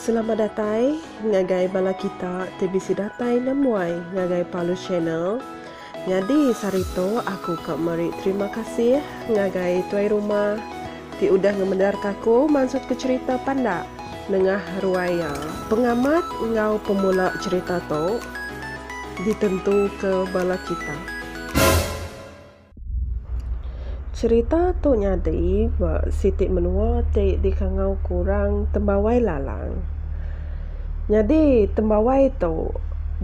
Selamat datai ngagai bala kita ti bisi datai nemuai ngagai Palus Channel. Nyadi sehari tu aku ka meri terima kasih ngagai tuai rumah Ti udah ngemendarka aku mansutka cherita pandak nengah ruai iya. Pengamat enggau pemula cherita tu ditentuka bala kita. Cherita tu nyadi ba siti menua ti dikangauka orang Tembawai Lalang. Nyadi tembawai tu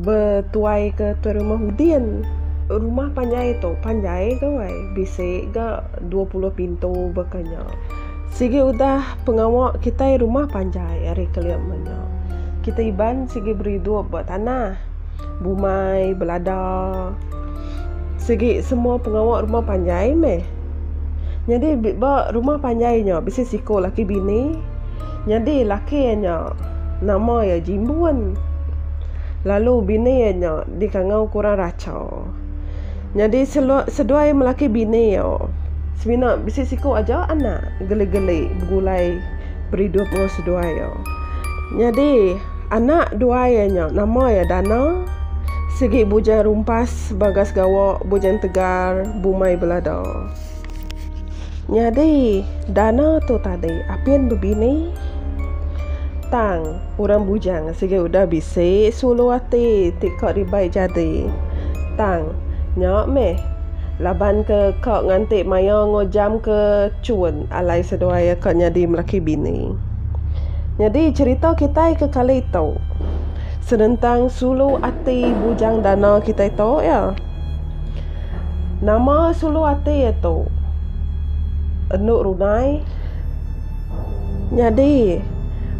betuaika tuai rumah Udin. Rumah panjai tu panjai ga wai, bisi ga dua puluh pintu baka nya. Sigi udah pengawa kitai rumah panjai ari kelim nya. Kitai Iban sigi beridup ba tanah, bumai, belada. Sigi semua pengawa rumah panjai meh. Nyadi ba rumah panjai nya bisi siku laki bini. Nyadi laki iya nya nama iya Jimbun, lalu bini iya nya dikangau ke orang Racha. Nyadi seduai melaki bini iya semina bisi siku aja anak geli-geli begulai beridup enggau seduai iya. Nyadi anak dua iya nya nama iya Dana sigi bujang rumpas bagas gawa bujang tegar bumai belada. Nyadi Dana tu tadi apin bebini tang orang bujang sigi udah bisi sulu ati ti ka dibai jadi tang nya meh laban ke ka nganti maya ngujam ke chun alai seduai ka nyadi laki bini. Nyadi cherita kitai ke kali tu senentang sulu ati bujang dana kitai tu iya. Nama sulu ati iya tu? Enu runai. Nyadi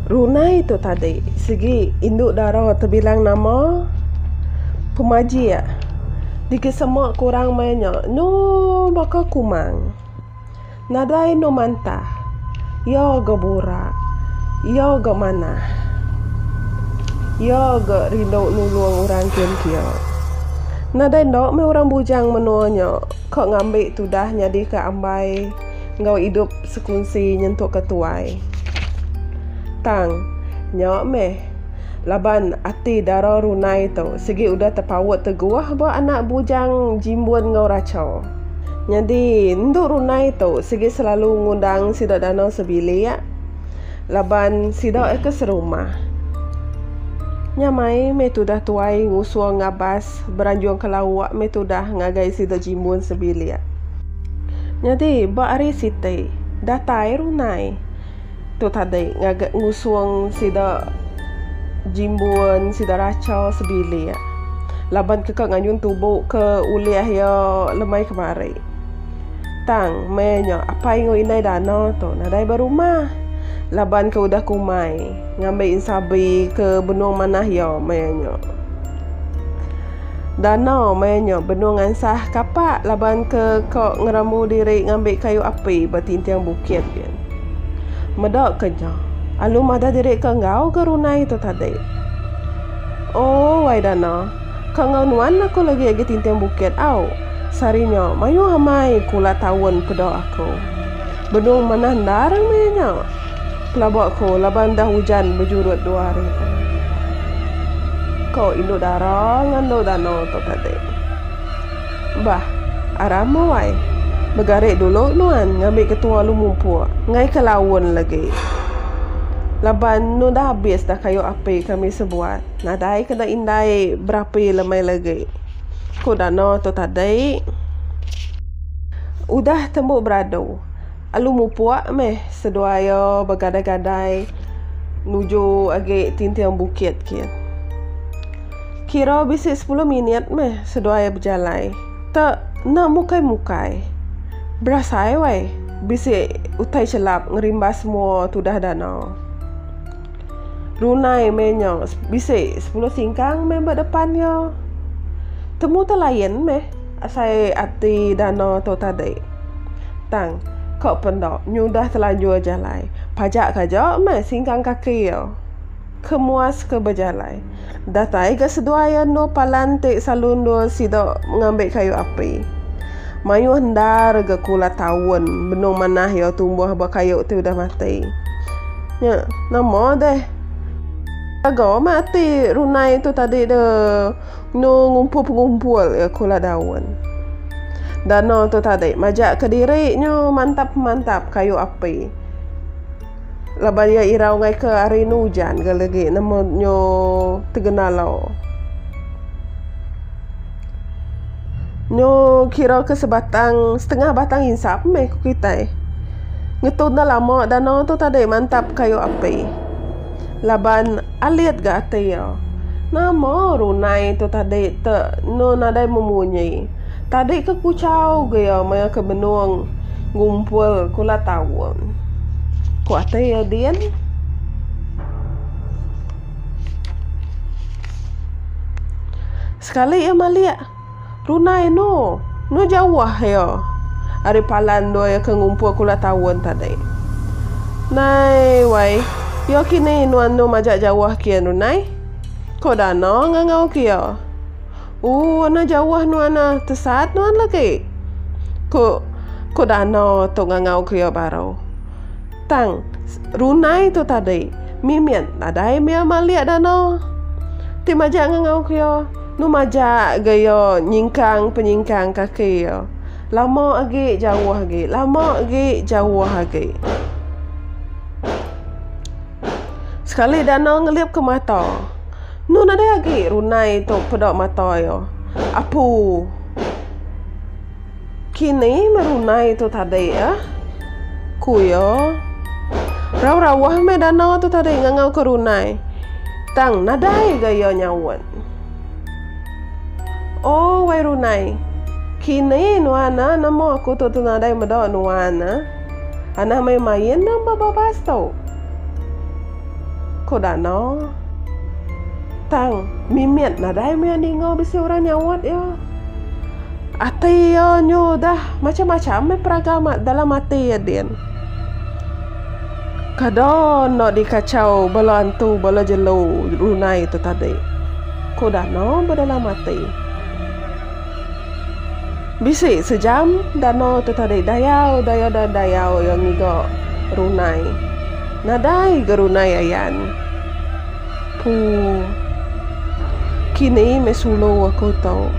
runai tu tadi sigi indu dara tebilang nama pemajik digesema ke orang maya nya nyu baka kumang. Nadai endu mantah. Iyo ga burak. Iyo ga manah. Iyo ga rindu nulung orang kin kia. Nadai enda meh orang bujang menua nya ka ngambi tudah nyadika ambai enggau idup sekunsi nyentuk ke tuai. Tang, nya meh laban ati dara runai tu sigi udah tepaut teguh ba anak bujang Jimbun enggau Rachaw. Nyadi endu Runai tu sigi selalu ngundang sida danau sebilik laban sida eka serumah. Nya mai meh tudah tuai ngusung ngabas beranjung ke lauk meh tudah ngagai sida jimbun sebilik. Nyadi ba hari siti datai Runai. Tu tadi ngaga ngusung sida jimbun, sida racha sebilik. Laban ke ka ngayun tubu ke ulih iya lemai kemari. Tang meh nya apai enggau indai dana tu nadai ba rumah. Laban ke udah kumai ngambi insabi ke benung manah iya maya nya. Dana maya nya benung ngansah kapa laban ke ka ngerambu diri ngambi kayu api ba tinting bukit. Meda ke nya, alu madah diri ke enggau ke runai tu tadi. Oh, wai Dana, ke enggau nuan aku lagi agi tinting bukit au. Sehari nya mayuh amai kula taun peda aku. Benung manah endar meh nya. Pelaba aku laban dah ujan bejurut dua hari tu. Ko indu dara ngandu danau tu tadi. Bah, Arama wai. Begari dulu nuan ngambi ketua Lumumpuk ngaika laun lagi. Laban nu dah abis dah kayu api kami sebuat. Nadai kena indai berapi lemai lagi, ku Dano tu tadi. Udah tembu beradu, Alumupuk meh seduai iya begadai-gadai nuju agi tinting bukit kian. Kira bisi sepuluh minit meh seduai bejalai. Te enda mukai-mukai. Berasai wai bisi utai chelap ngerimbas mua tudah danau. Runai meh nya bisi sepuluh singkang meh ba depan iya. Temu te lain meh asai ati danau tu tadi. Tang ka pe enda nyudah telanjur jalai. Pajak ke aja meh singkang kaki iya. ke muas ke bejalai. Datai ga seduai anu palan ti selalu endur sida ngambi kayu api. Mayuh endar ga ke ulah taun benung manah iya tumbuh ba kayu ti udah mati. Nya nama deh jaga meh ati runai tu tadi de enu ngumpul pengumpul iya ke ulah daun. Dana tu tadi majak ke diri nyu mantap mantap kayu api. Laban iya irau ngaika ari enu ujan ga legi nama nyo tegena lau. Nyo kira ke sebatang setengah batang insap meh ku kitai. Ngetu enda lama danau tu tadi mantap kayu api. Laban alit ga ati iya. Nama runai tu tadi te enu nadai memunyi. Tadi ke kuchau ga iya maya ke benung ngumpul kula taun. Ku ati iya din. Sekali iya malik runa inu enu jauh iya ari pala endur iya ke ngumpul kula taun tadi. Nai wai iya kini inu andu majak jauh kian runa ai. Ku Dano ngangau ke iya. Uh, anang jauh nuan ah. Tesat nuan lagi. Ku ku Dano tu ngangau kelia baru. Tang, runai tu tadi. Mimit nadai mia malik Dano. Ti majak ngangau kelia. Nu majak ga iya nyingkang-penyingkang kaki iya. Lama agi jauh agi. Lama agi jauh agi. Sekali Dano ngelipka mata. Nu nadai agi runai tu peda mata iya. Apu. Kini meh runai tu tadi ah. Ku iya. Rauh-rauh meh dana tu tadi ngangauka runai. Tang nadai ga iya nyaut. Oh wai runai. Kini nuan ah nemu aku tu nadai meda nuan ah. Anang meh main nya ba babas tu. Ko Danau. Tang, mimit nadai meh ninga bisi orang nyawat iya. Ati iya nyu udah macam-macam meh peraga ma dalam ati iya din. Kada enda dikachau bala antu bala jelu runai tu tadi, ko Danau bedalam ati. Bisi sejam Danau tu tadi dayau daya dayau iya ngiga runai. Nadai gerunai ayan. Pu. Kini meh sulu aku tu.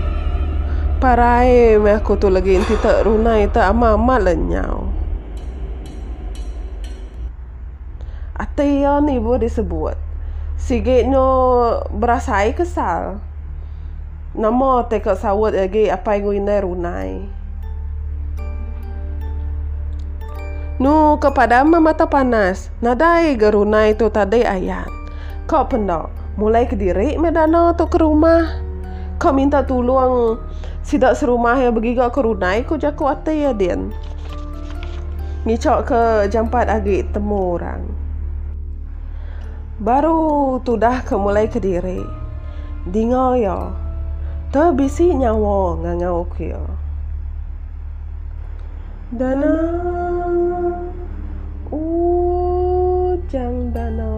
Parai meh aku tu legi enti te runai te amat amat le nyau. Ati iya ni ibuh disebut. Sigi nyo berasai kesal. Nama teka saut agi apai enggau indai runai. Nu ke padam meh mata panas. Nadai ga runai tu tadi ayan. Ka penda. Mulai kediri meh dana tu ke rumah. Ka minta tulung sida serumah iya begiga ke runai ku jaku ati iya din. Ngichaka jampat agi temu orang. Baru tudah ke mulai kediri. Dinga iya. Te bisi nyawa ngangau ku iya. Dana ujang dana.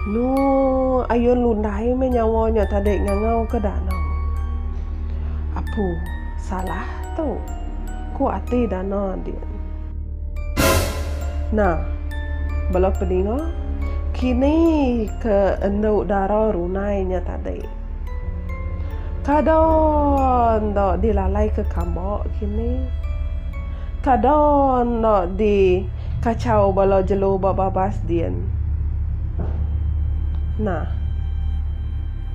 Nu ayun lundai meh nyawa nya tadi ngangau ke dana. Apu salah tu. Ku ati dana din. Nah, bala peninga, kini ke endu dara runai nya tadi. Kada enda dilalaika kamba kini. Kada enda dikachau bala jelu ba babas din. Nah.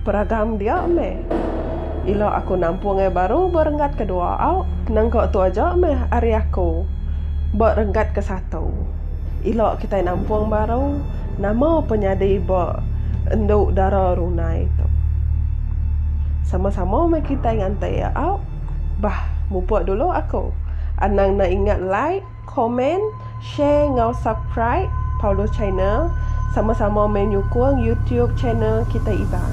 Peragam dia meh. Ila aku nampung ai baru ba renggat kedua au nengka tu aja meh ari aku ba renggat ke satu. Ila kitai nampung baru nama pun nyadi ba endu dara runai tu. Sama sama meh kitai nganti au. Bah mupuk dulu aku anang enda ingat like. Komen, share enggau subcribe Paulus Channel sama-sama meh nyukung YouTube channel kitai Iban.